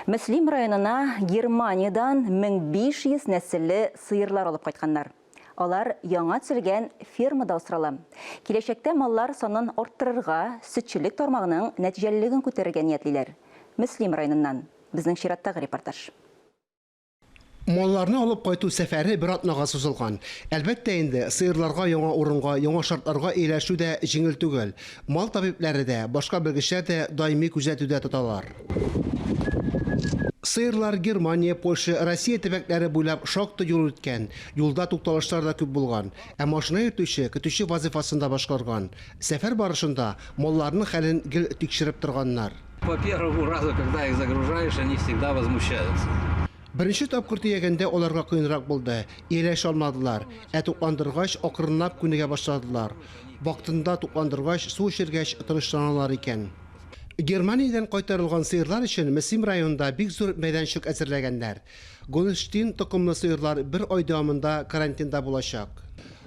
Мөслим районына Германиядән 1500 нәселле сыерлар алып кайтканнар. Алар яңа төзелгән фермада асрала. Киләчәктә маллар санын арттырырга, сөтчелек тармагының нәтиҗәлелеген күтәрергә ниятлиләр. Мөслим районыннан безнең чираттагы репортаж. Малларны алып кайту сәфәре бер атнага сузылган. Әлбәттә инде, сыерларга яңа урынга, яңа шартларга ияләшү дә җиңел түгел. Мал табибләре дә, башка белгечләр дә даими күзәтүдә тоталар. Сыерлар Германия, Польша, Россия төбәкләре буйлап шактый юл үткән, юлда тукталышлар да күп булган. Ә машина йөртүче, көтүче вазыйфасын да башкарган. Сәфәр барышында малларның хәлен гел тикшереп торганнар. Беренче тапкыр төягәндә аларга кыенрак булды, ияләшә алмадылар, ә тукландыргач, акрынлап күнегә башладылар. Вакытында тукландыргач, су эчергәч, тынычланалар икән. Германиядән кайтарылган сыерлар өчен Мөслим районында бик зур мәйданчык әзерләгәннәр. Гольштин токымлы сыерлар бер ай дәвамында карантинда булачак.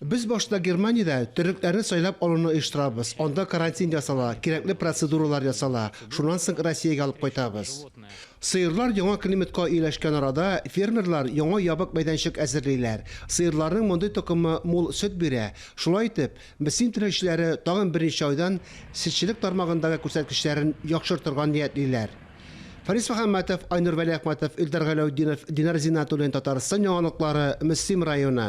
Без башта Германиядә төрекләрне сайлап алуны оештырабыз, анда карантин ясала, кирәкле процедуралар ясала, шуннан соң Россиягә алып кайтабыз. Сыерлар яңа климатка ияләшкән арада, фермерлар яңа ябык мәйданчык әзерлиләр. Сыерларның мондый токымы мул сөт бирә. Шулай итеп, БСИН түләүчеләре тагын берничә айдан сөтчелек тармагындагы күрсәткечләрен яхшыртырга ниятлиләр. Фарис Мөхәммәтов, Айнур Вәлиәхмәтов, Илдар Галәүтдинов, Динар Зиннәтуллин, Татарстан яңалыклары, Мөслим районы.